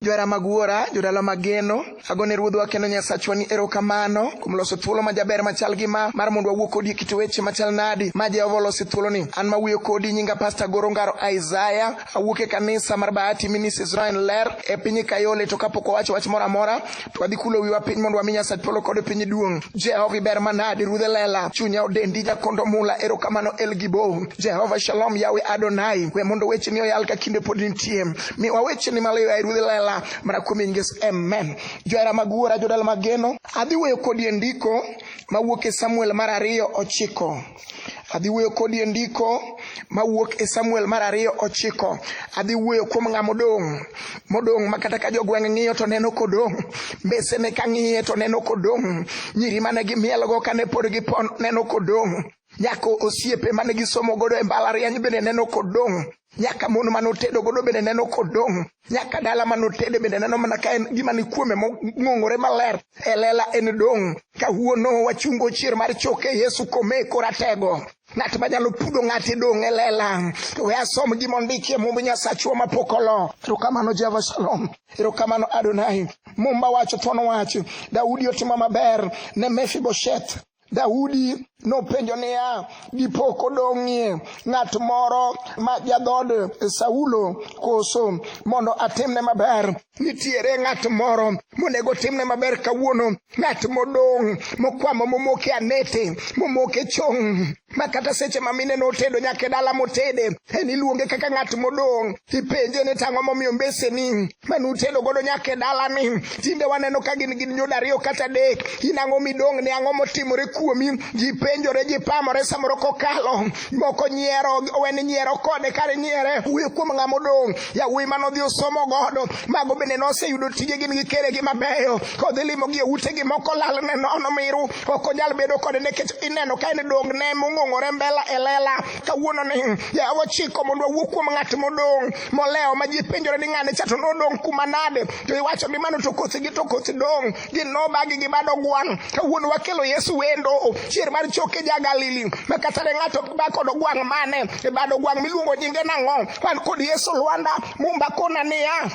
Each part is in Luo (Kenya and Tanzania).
Johera mag Wuora, jodala mag geno, ago ne Ruodhwa kendo Nyasachwa ni erokamano kuom loso thuolo ma jaber machal gi ma mar mondo wawuo kodi e kit weche machal nadi ma Jehova olosi thuoloni. An ma wuoyo kodi nyinga Pasta Goro Ngaro Isaiah, awuok e kanisa mar Bahati Ministries Israel Ler e piny Kayole to kapok wawacho wach moro amora To wadhi kulo wiwa piny mondo wami Nyasach polo kod piny duong'. Jehova iber manadi rudhe lela. Chunya odendi jakondo mula erokamano El Gibo. Jehova Shalom Yawe Adonai. We mondo weche ni oyal ka kinde pod nitie. Mi wa weche ni maloyo ai rudhe lela. Mana kuom inges amen. Johera mag wuora jodala mageno. Adhi weyo kodi e ndiko mawuok e Samuel mar ariyo ochiko. Adhi wuoyo kodi e ndiko mawuok e Samuel mar ariyo ochiko. Adhi wuoyo kuom ng'a modong' modong' ma kata ka jogweng' ng'iyo to neno kodong', mbesene ka ng'iye to neno kodong', nyiri mane gimielgo kane pod gipon neno kodong', nyako osiepe mane gisomo godo e mbalariany bende neno kodong'. nyaka mon ma notedo godo bende neno kodong' nyaka dala ma notede bende neno mana ka en gima ni kuome mong'ong'ore maler e lela en dong' ka huono wachungo chier mar choke yesu kome koratego ng'at manyalo pudo ng'at idong' e lela to we asom gima ondiki e mumb nyasachwa mapok olo erokamano jehova shalom erokamano adonai mumba wacho thuon wach daudi otimo maber ne mefibosheth Daudi nopenjo niya, dipo kodong'ie ng'at moro ma jadhod Saulo koso mondo atimne maber? Nitiere ng'at moro monego timne maber kawuono, ng'at modong' mokwamo momoke anete, momoke chong' ma kata seche ma mine notedo nyaka e dala motede, en iluonge kaka ng'at modong', ipenje ni tang'o momiyo mbeseni mane utedo godo nyaka e dalani tinde waneno ka gin gin nyodo ariyo kata adek in ang'o midong' ne ang'o motimore kuomi ji penjore ji pamore samoro kokalo moko nyiero weni nyiero kode kare nyiere wuyo kuom ng'ama odong' yawuoyi mane odhi osomo godo mago bende noseyudo tije gin gi keregi mabeyo kodhi limogi e utegi moko lal ne nono miru ok onyal bedo kode nikech ineno ka en dong' ne mong'ong'ore mbela e lela kawuononi yawa chiko mondo wawuo kuom ng'at modong' molewo ma ji penjore ni ng'ane cha to nodong' kuma nade to iwacho ni mano to kothi gi to kothi dong' gin nobagi gi bado gwang' kawuono wakelo yesu wendo chier mar choke ja galili ma kata ne ng'ato ba kod gwang' mane e bado gwang' miluongo nyinge nang'o wan kod yesu lwanda mumba kona niya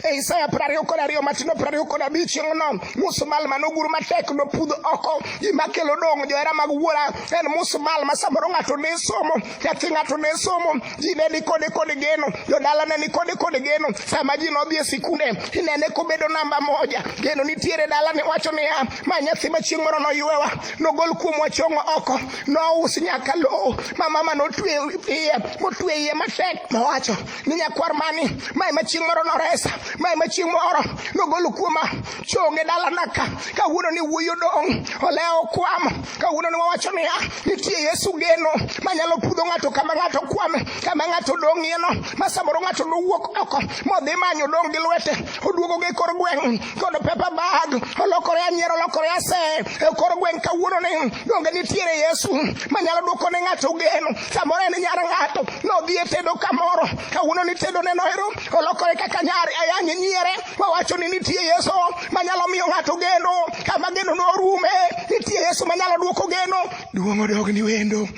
e isaya prariyo kod ariyo matino prariyo kod abich chieng'no musumal manogur matek nopudh oko gima kelo dong' johera mag wuora en musumal ma samoro ng'ato ne somo Nyathi ng'ato ne somo, ji ne nikode kod geno, jodala ne nikode kod geno. Sama ji nodhi e sikunde, inene kobedo namba moja. Geno nitiere dala ni wacho niya, ma nyathi ma chieng' moro noywewa, nogol kuom wachongo oko, nous nyaka lowo, ma mama notwe iye, motwe iye matek, mowacho ni nyakwar mani, ma ema chieng' moro noresa, ma ema chieng' moro nogol kuoma chonge dala naka, kawuono ni wuoyi odong', olewo kwamo, Kawuono ne wawacho niya, nitie Yesu geno manyalo pudho ng'ato kama ng'ato kwame, kama ng'ato dong'ieno, ma samoro ng'ato nowuok oko modhi manyo dong' gi lwete, oduogo gi kor gweng' kod pepa bag, olokore anyiero, olokore ase e kor gweng' kawuono ni donge nitiere Yesu manyalo duoko ne ng'ato geno. Samoro en nyar ng'ato nodhi e tedo kamoro, kawuono ni tedo ne noero, olokore kaka nyar ayany nyiere, wawacho ni nitie Yesu manyalo miyo ng'ato geno kama geno norume nitie yesu manyalo duoko geno duong' odogni wendo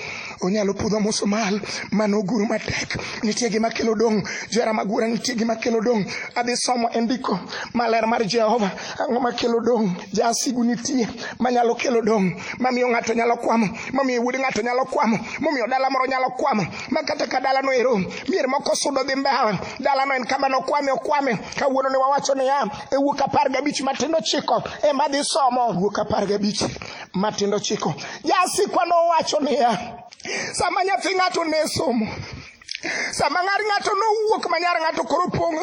onyalo pudho musumal mano guru matek nitie gima kelo dong' jera magura nitie gima kelo dong' adhi somo e ndiko maler mar jehova ang'o makelo dong' jasigu nitie manyalo kelo dong' mamiyo ng'ato nyalo kwamo mamiyo wuod ng'ato nyalo kwamo momiyo dala moro nyalo kwamo ma kata ka dalano ero mier moko sudo dhi mbawa dalano en kama nokwame okwame kawuono ne wawacho niya e wuok apar gabich matindo chiko ema dhi somo wuok apar gabich matindo chiko jasikwa nowacho niya sama nyathi ng'ato ne somo sama ng'ar ng'ato nowuok ma nyar ng'ato koro pong'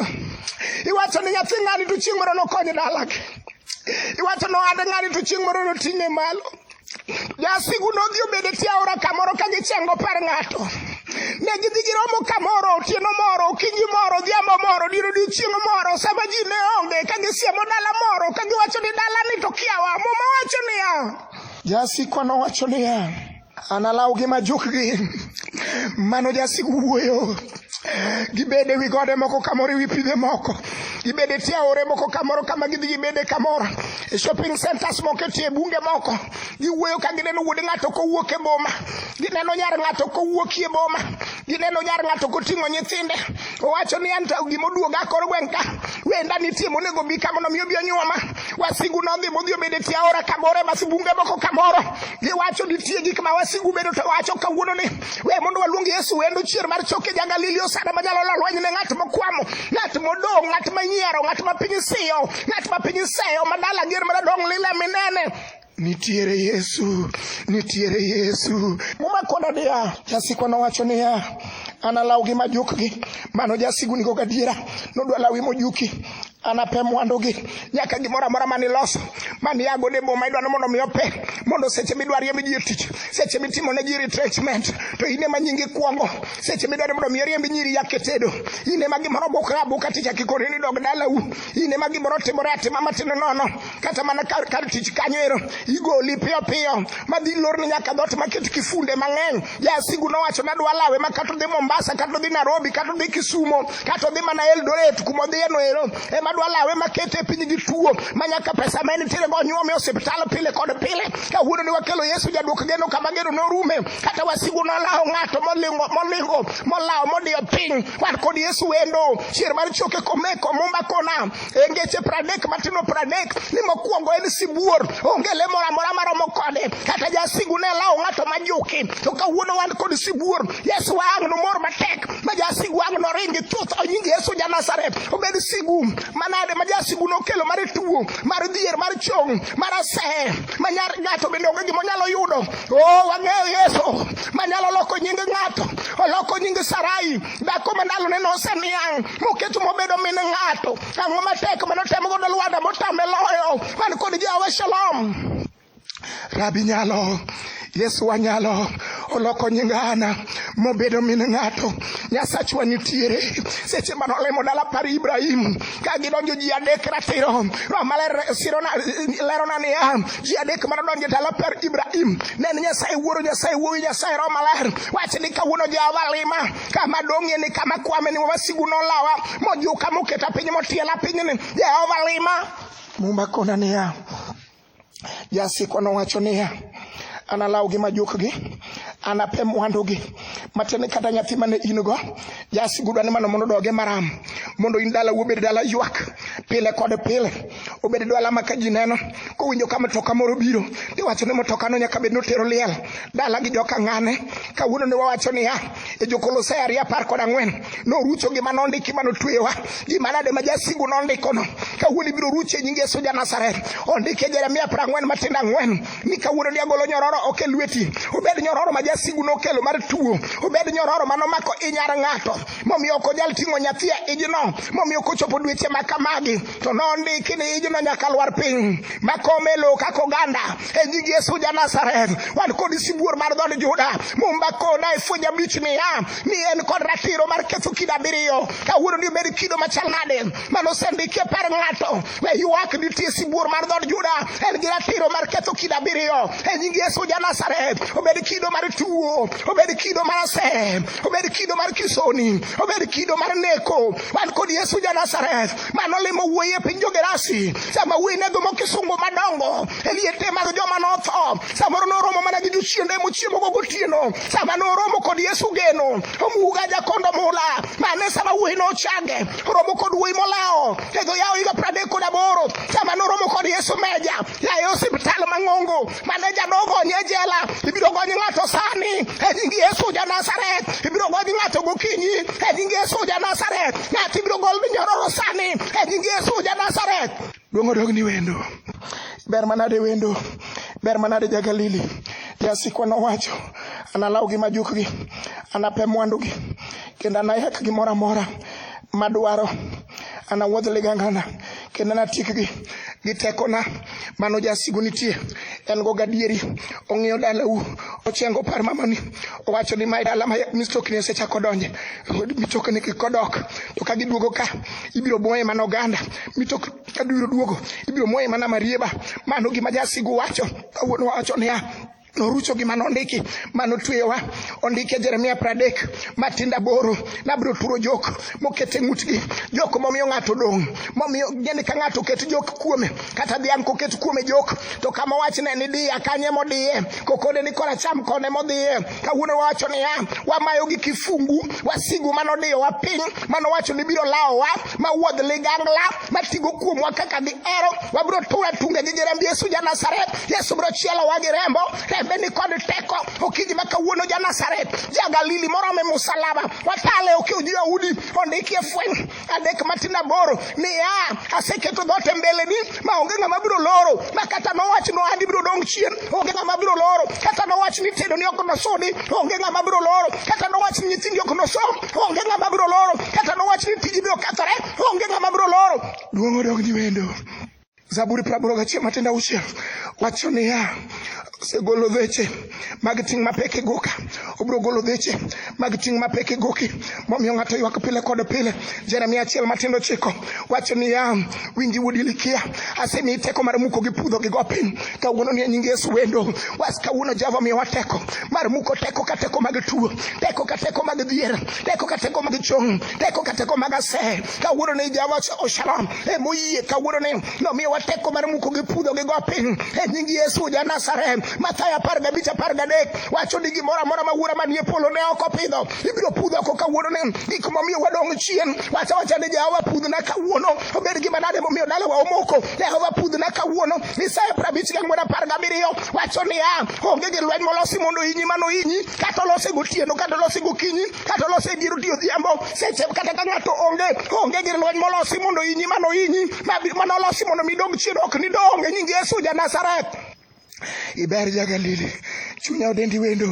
iwacho ni nyathi ng'ani to chieng' moro nokony dalagi iwacho nohande ng'ani to chieng' moro noting'e malo Jasigu nodhi obedo tie aora kamoro ka gichengo par ng'ato. Ne gidhi giromo kamoro otieno moro, okinyi moro, odhiambo moro, dier odiechieng' moro, sama ji ne onge, ka gisiemo dala moro, ka giwacho ni dalani to kiawa. Muma wacho niya, jasikwa nowacho niya, analawgi ma jukgi. Mano jasik wuoyo. gibede wi gode moko kamoro e wi pidhe moko gibede tie aore moko kamoro kama gidhi gibede kamoro e shopping centers moko e tie bunge moko giwuoyo ka gineno wuod ng'ato kowuok e boma gineno nyar ng'ato kowuok e boma gineno nyar ng'ato koting'o nyithinde owacho ni an to gima oduoga kor gweng' ka wenda nitie monego bi ka mondo mi obi onyuoma wasigu nodhi modhi obedo e tie aora kamoro e mas bunge moko kamoro giwacho nitie gik ma wasigu bedo to wacho kawuono ni We mondo waluong Yesu wendo chier mar choke ja Galili osana manyalo lo lweny ne ng'at mokwamo, ng'at modong', ng'at manyiero, ng'at ma piny siyo, ng'at ma piny seyo, madala ger madadong' lile minene. Nitiere Yesu, nitiere Yesu. Muma koda niya, jasikwa nowacho niya, analawgi majukgi. Mano jasigu nigo gadiera, nodwa lawi mojuki. anape mwandugi nyaka gimoro amora mane iloso mane iago ne boma idwano mondo mi ope mondo seche midwa riemb ji e tich seche mitimo ne ji retrenchment to in ema nyingi kwongo seche midwaro mondo mi oriemb nyiri yake tedo in ema gimoro bukra abuka tich akikoni ni dog dalau in ema gimoro timore atima matindo nono kata mana kar, kar tich kanyo ero igoli piyo piyo madhi lorni nyaka dhot maket kifunde mang'eny Jasigu nowacho nadwa lawe ma kata odhi Mombasa, kata odhi Nairobi, kata odhi Kisumo, kata odhi mana Eldoret kuma odhiye no ero, ema dwa lawe ma kete e piny gi tuo ma nyaka pesa ma en tiere go nyuome osiptal pile kod pile. Kawuono ne wakelo Yesu jaduok geno kama geno norume, kata wasigu nolawo ng'ato molingo molingo molawo modiyo piny. Wan kod Yesu wendo, chier mar choke komeko mumba kona e ngeche pradek matindo pradek ni mokwongo en sibuor onge le moro amora maromo kode kata jasigu ne lawo ng'ato majuki to kawuono wan kod sibuor yesu ang' nomor matek ma jasigu ang' noringi chuth onyingi yesu ja nazareth obed sigu manade ma jasigu nokelo mar tuo mar dhier mar chong mar asehe ma nyar ng'ato bende onge gima onyalo yudo o oh, wang'eyo yesu manyalo loko nying ng'ato oloko nying sarai Dhako ma ndalone noseniang' moketo mobedo min ng'ato. Ang'o matek ma notemo godo Lwanda motame loyo man kod Jehova Shalom? Rabi nyalo Yesu wanyalo oloko nying Ana mobedo min ng'ato. Nyasachwa nitiere seche mane olemo dala par Ibrahim ka gidonjo ji adek ratiro. Roho maler sirona lerona niya ji adek ma nodonjo e dala par Ibrahim ne en Nyasaye Wuoro, Nyasaye Wuowi, Nyasaye Roho Maler. Wach ni kawuono Jehova lima kama dong'ie ni kama kwame ni wasigu nolawa mojuka moketa piny motiela pinyni Jehova lima. Muma kona niya, jasikwa nowacho niya, analawgi majukgi anape mwandugi matene kata nyathi mane in go jasigudu ane mano mondo doge maram mondo in dala wuobed dala ywak pile kod pile obed dwa alama ka ji neno kowinjo ka mtoka moro biro tiwacho ni mtokano nyaka bed notero liel dala gi joka ng'ane kawuono ne wawacho niya e jokolosai ariyo apar kod ang'wen norucho gima nondiki ma notweyowa gima nade ma jasigu nondikono kawuono ibiro rucho e nying yesu ja nazareth ondiki e jeremia apar ang'wen matindo ang'wen ni kawuono ni agolo nyororo ok e lweti obed nyororo ma jasigu nokelo mar tuo obed nyororo ma nomako inyar ng'ato momiyo ok onyal ting'o nyathi e ijno momiyo kochopo dweche ma kamagi to nondiki ni ijno nyaka lwar piny makome lowo kaka oganda e nying yesu ja nazareth wan kod sibuor mar dhod juda mumba kona e fwenyo abich niya ni en kod ratiro mar ketho kido abiriyo kawuono ni obed kido machal nade mano osendiki e par ng'ato we ywak nitie sibuor mar dhod juda en gi ratiro mar ketho kido abiriyo e nying yesu ja nazareth obed kido mar tuo obed kido mar asem obed kido mar kisoni obed kido mar neko wan kod yesu ja nazareth mano limo wuoyi e piny jogerasi sama wuoyi ne gomo kisungu madongo e liete mag joma notho samoro noromo mana gi jochiende mochiemogo gotieno sama noromo kod yesu geno omuga jakondo mula mane sama wuoyi nochange oromo kod wuoyi molawo e dho yawo higa pradek kod aboro sama noromo kod yesu meja yaye osiptal mang'ongo mane janogonye jela ibiro gony ng'ato sani e nying yesu ja nazareth ibiro gony ng'ato gokinyi e nying yesu ja nazareth ng'ato ibiro gol minyororo sani e nying yesu ja nazareth duong' odogni wendo ber manade wendo ber manade ja galili jasikwa nowacho analaw gi majukgi anape mwandugi kendo anayak gimoro amora madwaro anawuodh ligangana kendo natikgi gi tekona mano jasigu nitie en go gadieri ong'iyo dalau ochengo par mamani owacho ni mae dala ma mistokni osechako donje mitokni kikodok to ka giduogo ka ibiro moye mana oganda mitok ka biro duogo ibiro moye mana marieba mano gima jasigu wacho kawuono wacho niya norucho gi mano ondiki mano tweyowa ondike jeremia pradek matinda boro nabiro turo jok mokete ng'utgi jok momiyo ng'ato dong' momiyo geni ka ng'ato oket jok kuome kata dhiang' koket kuome jok to kama wachne ni diya kanye modiye kokode ni koracham kone modhiye kawuono wawacho niya wamayo gi kifungu wasigu manodiyowa piny manowacho ni biro lawowa ma wuodh ligangla ma tigo kuomwa kaka gihero wabiro tur atunge gi jiremb yesu ja nazareth yesu biro chielowa gi rembo rembe ni kod teko okinyi ma kawuono ja nazareth ja galili morome musalaba watale okiw ji yahudi ondikie fweny adek matin aboro niya aseketo dhote mbeleni ma onge ng'ama biro loro ma kata nowach ni ohandi biro dong' chien onge ng'ama biro loro kata nowach ni tedo ni ok nosudi onge ng'ama biro loro kata nowach ni nyithindi ok nosom onge ng'ama biro loro kata nowach ni tiji biro kethore onge ng'ama biro loro duong' odog ni wendo zaburi praboro gachiel matendo auchiel wacho niya osegolo dheche mag ting' mapek e goka obiro golo dheche mag ting' mapek e goki momiyo ng'ato ywak pile kod pile jeremia achiel matindo chiko wacho niya winji wuod ilikia asemiyi teko mar muko gi pudho gi go piny kawuono ni nying yesu wendo was kawuono jehova miyowa teko mar muko teko ka teko mag tuo teko ka teko mag dhier teko ka teko mag chong teko ka teko mag asee kawuono ni Jehova Shalom e moyie kawuono ni nomiyo wateko mar muko gi pudho gi go piny e nying Yesu ja Nazareth Mathayo apar gabich apar gadek wacho ni gimoro amora ma wuora manie polo ne ok opidho ibiro pudho oko kawuono ni gik momiyo wadong' chien wacha wacha ni Jehova pudhna kawuono obed gima nade momiyo dalawa omoko Jehova pudhna kawuono Isaya prabich gang'wen apar gabiriyo wacho niya onge gi lweny molosi mondo inyi mano inyi kata olose gotieno kata olose gokinyi kata olose dier otiyo odhiambo seche kata ka ng'ato onge onge gir lweny molosi mondo inyi mano inyi mano olosi mondo mi dog chien ok ni dong e nying yesu ja nazareth iber ja galili chunya odendi wendo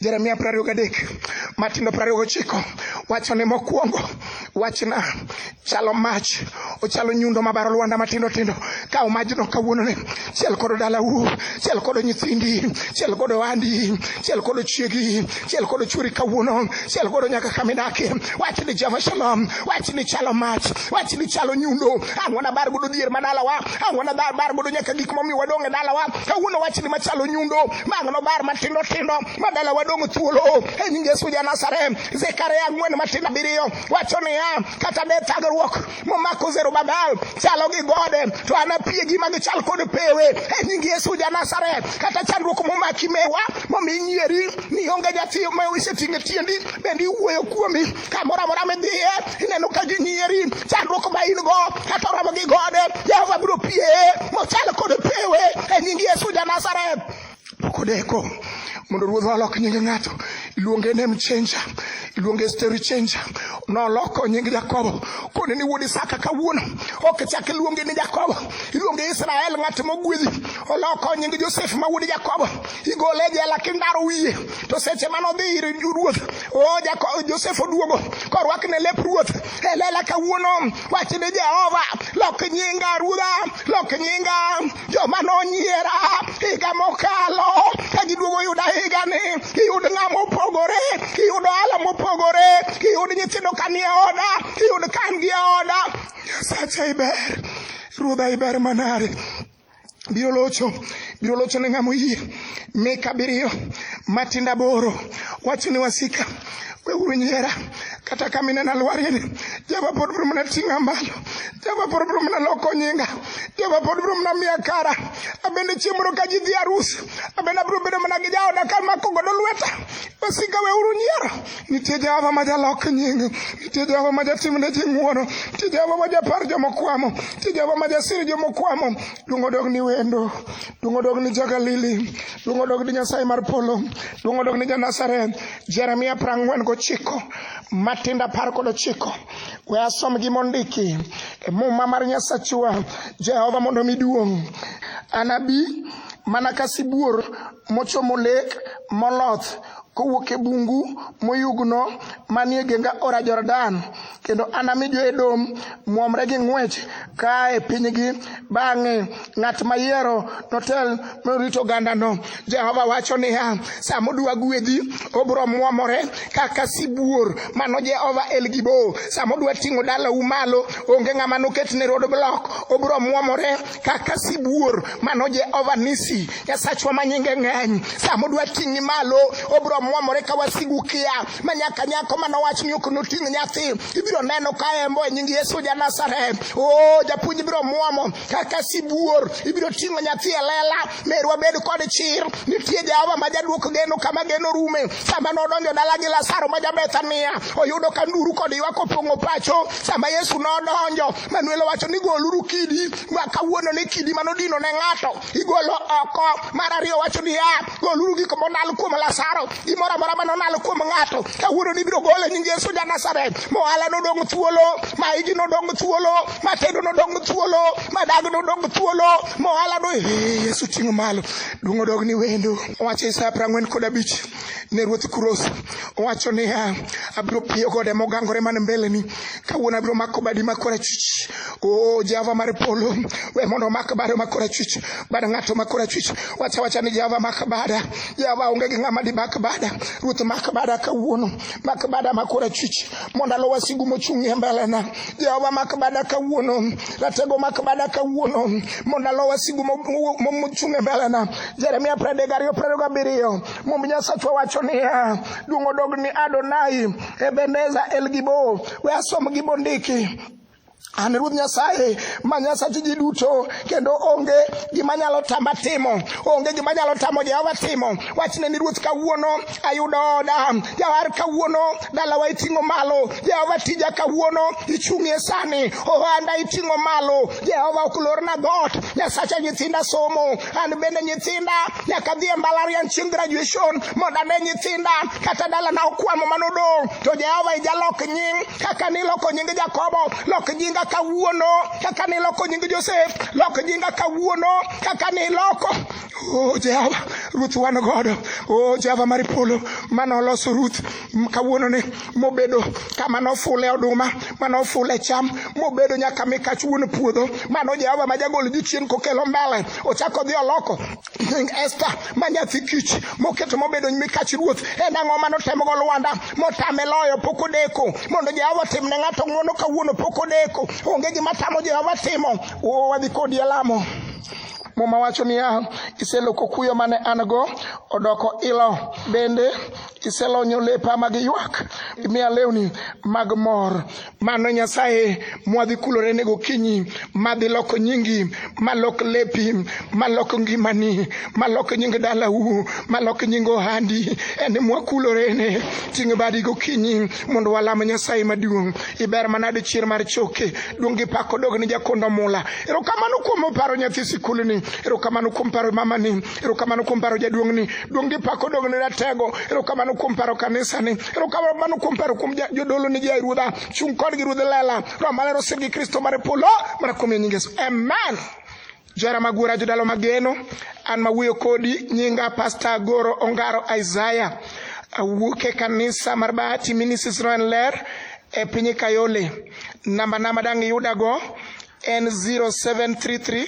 jeremia prariyo gadek matindo prariyo gochiko wachone mokwongo wachna chalo mach ochalo nyundo mabaro lwanda matindo tindo kaw majno kawuononi chiel kodo dalau chiel kodo nyithindi chiel kodo andi chiel kodo chiegi chiel kodo churi kawuono chiel kodo nyaka kamidake wach ni jehova shalom wach ni chalo mach wach ni chalo nyundo an wanabar godo dier ma dalawa an wanabar bar godo nyaka gik momiyo wadong' e dalawa kawuono wach ni machalo nyundo bang' nobar matindo tindo ma dalawa dong' thuolo e nying yesu janasarem zekaria ang'wen matindo abiriyo wacho niya kata ne thagruok momako zerubabel chalo gi gode to anapiegi ma gichal kod pewe e nying yesu janasaret kata chandruok momaki mewa momi nyieri ni onge nyathi ma iseting'e tiendi bende iwuoyo kuomi kamoro amora midhiye ineno ka ginyieri chandruok ma in go kata oromo gi gode jehova biro pieye mochal kod pewe e nying yesu janasaret Pok odeko mondo ruodhwa olok nying ng'ato, iluonge name changer, iluonge story changer. Noloko nying Jakobo kone ni wuod Isaka kawuono ok chak iluonge ni Jakobo, iluonge Israel ng'at mogwedhi. Oloko nying Josef ma wuod Jakobo, igole e jela kindaro wiye. To seche mano dhi ir ruoth, o Jakobo Josef oduogo korwakne lep ruoth. Elela kawuono wachne Jehova, lok nyinga ruodha lok nyinga joma nonyiera higa mokalo ka giduogo yuda higa ni iyud ng'a mopogore iyud ohala mopogore iyud nyithindo kanie oda iyud kan gi e oda sacha iber ruodha iber manare biro locho biro locho ne ng'amo yie mika abiriyo matinda boro wacho ni wasika Weuru nyiera kata ka minena lwarie ni Jehova pod biro mana ting'a malo. Jehova pod biro mana loko nyinga. Jehova pod biro mana miya kara. Abende chieng' moro ka ji dhi arus, abende abiro bedo mana gi jaoda ka mako godo lweta. Wasika weuru nyiero. Nitie Jehova ma jalok nying. Nitie Jehova ma jatim ne ji ng'wono. Nitie Jehova ma japar joma kwamo. Nitie Jehova ma jasir joma kwamo. Duong' odog ni wendo. Duong' odog ni ja Galili. Duong' odog ni Nyasaye mar polo. Duong' odog ni ja Nazareth. Jeremia prang'wen gochiko matindo apar kod ochiko we asom gi mondiki e muma mar nyasachwa jehova mondo mi duong' anabi mana ka sibuor mochomo lek moloth kowuok e bungu moyugno manie genga ora jordan kendo anami jo-Edom muomre gi ng'wech kaa e pinygi. Bang'e ng'at mayiero notel norito ogandano. Jehova wacho niya, sa modwa gwedhi, obiro muomore kaka sibuor. Mano Jehova El Gibo. Sa modwa ting'o dalau malo, onge ng'ama noket ne road block. Obiro muomore kaka sibuor. Mano Jehova Nisi, Nyasachwa ma nyinge ng'eny. Sa modwa ting'i malo, obiro muomore ka wasigu kia. ma nyaka nyako mane owach ni ok noting' nyathi ibiro neno ka embo e nying Yesu ja Nazareth. Oh, japuonj ibiro muomo kaka sibuor, ibiro ting'o nyathi e lela. Merwa bed kod chir, nitie Jehova ma jaduok geno kama geno rume. Sama nodonjo dala gi Lazaro ma Jabethania, oyudo ka nduru kod ywak opong'o pacho. Sama Yesu nodonjo, Manuel owacho ni goluru kidi, ma kawuono ni kidi manodino ne ng'ato igolo oko. Mar ariyo wacho niya, goluru gik monal kuom Lazaro, gimoro amora mane onal kuom ng'ato, kawuono ibiro gole nying Yesu ja Nazareth. Mohala nodong thuolo, maigi nodong thuolo, matendo nodong thuolo, madag nodong thuolo, mohala no ee Yesu ting'o malo. Duong' odog ni wendo. Owacho Isaya prang'wen kod abich ne ruoth Kuros. Owacho niya, abiro piyo gode mogangore man mbeleni, kawuono abiro mako badi ma korachwich O oh, Jehova mar polo, we mondo omak bade ma korachwich, bad ng'ato ma korachwich. Wacha wacha ni Jehova mak bada. Jehova onge gi ng'ama dimak bada. Ruoth mak bada kawuono. Mak bada ma korachwich mondo alo wasigu mochung' e mbelena. Jehova mak bada kawuono. Ratego mak bada kawuono mondo alo wasigu mochung' e mbelena. Jeremia pradek ariyo pradek abiriyo. Mumb Nyasachwa wacho niya, duong' odog ni Adonai, Ebeneza, El Gibo. We asom gibondiki. an ruoth nyasaye ma nyasachi ji duto kendo onge gima nyalo tama timo onge gima nyalo tamo jehova timo wachne ni ruoth kawuono ayudo oda jawar kawuono dalawa iting'o malo jehova tija kawuono ichung'ie sani ohanda iting'o malo jehova ok lorna dhoot nyasacha nyithinda somo An bende nyithinda nyaka dhi e mbalariany chieng' graduation mondo ane nyithinda kata dalana okwamo mano odong'. To Jehova ijalok nying kaka niloko nying Jakobo, lok nyinga kawuono kaka niloko nying Josef, lok nyinga kawuono kaka niloko. Oh Jehova, Ruth wan godo. Oh Jehova mar polo, mano oloso Ruth. kawuono ni mobedo kama nofule oduma mane ofule cham mobedo nyaka mikach wuon puodho mano jehova ma jagol jochien kokelo mbele ochako dhi oloko nying esta ma nyathi kich moketo mobedo mikach ruoth en ang'o mane otemogo lwanda motame loyo pok odeko mondo jehova otim ne ng'ato ng'uono kawuono pok odeko onge gima tamo jehova timo oo wadhi kodi e lamo muma wacho niya iseloko kuyo mane an go odoko ilo bende iselonyo lepa mag ywak imiya lewni mag mor mano nyasaye mwadhi kulore ne gokinyi madhi loko nyingi malok lepi malok ngimani malok nying dalau malok nying ohandi en mwakulore ne ting' badi gokinyi mondo walam nyasaye maduong' iber manade chier mar choke duong' gi pako dog ni jakondo mula erokamano kuom paro nyathi sikulni erokamano kuom paro mamani Erokamano kuom paro jaduong'ni. Duong' gi pak odog ne ratego. Erokamano kuom paro kanisani. Erokamano kuom paro kuom jodolo ni jai ruodha. Chung' kodgi ruodh lela. Roho maler osir gi Kristo mar polo. Mana kuom nying Yesu. Amen. Johera mag wuora jodalo mageno. An ma wuoyo kodi nyinga Pastor Goro Ongaro Isaiah. Awuok e kanisa mar Bahati Ministries Roho en ler e piny Kayole. Namba na madang' iyudago en 0733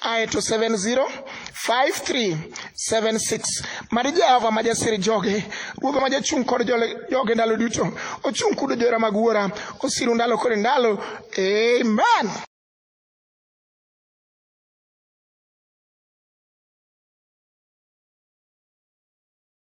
aye to 705376 mari jehova ma jasir joge ruodha ma jachung' kod joge ndalo duto ochung' kudo jora mag wuora osiru ndalo kod ndalo amen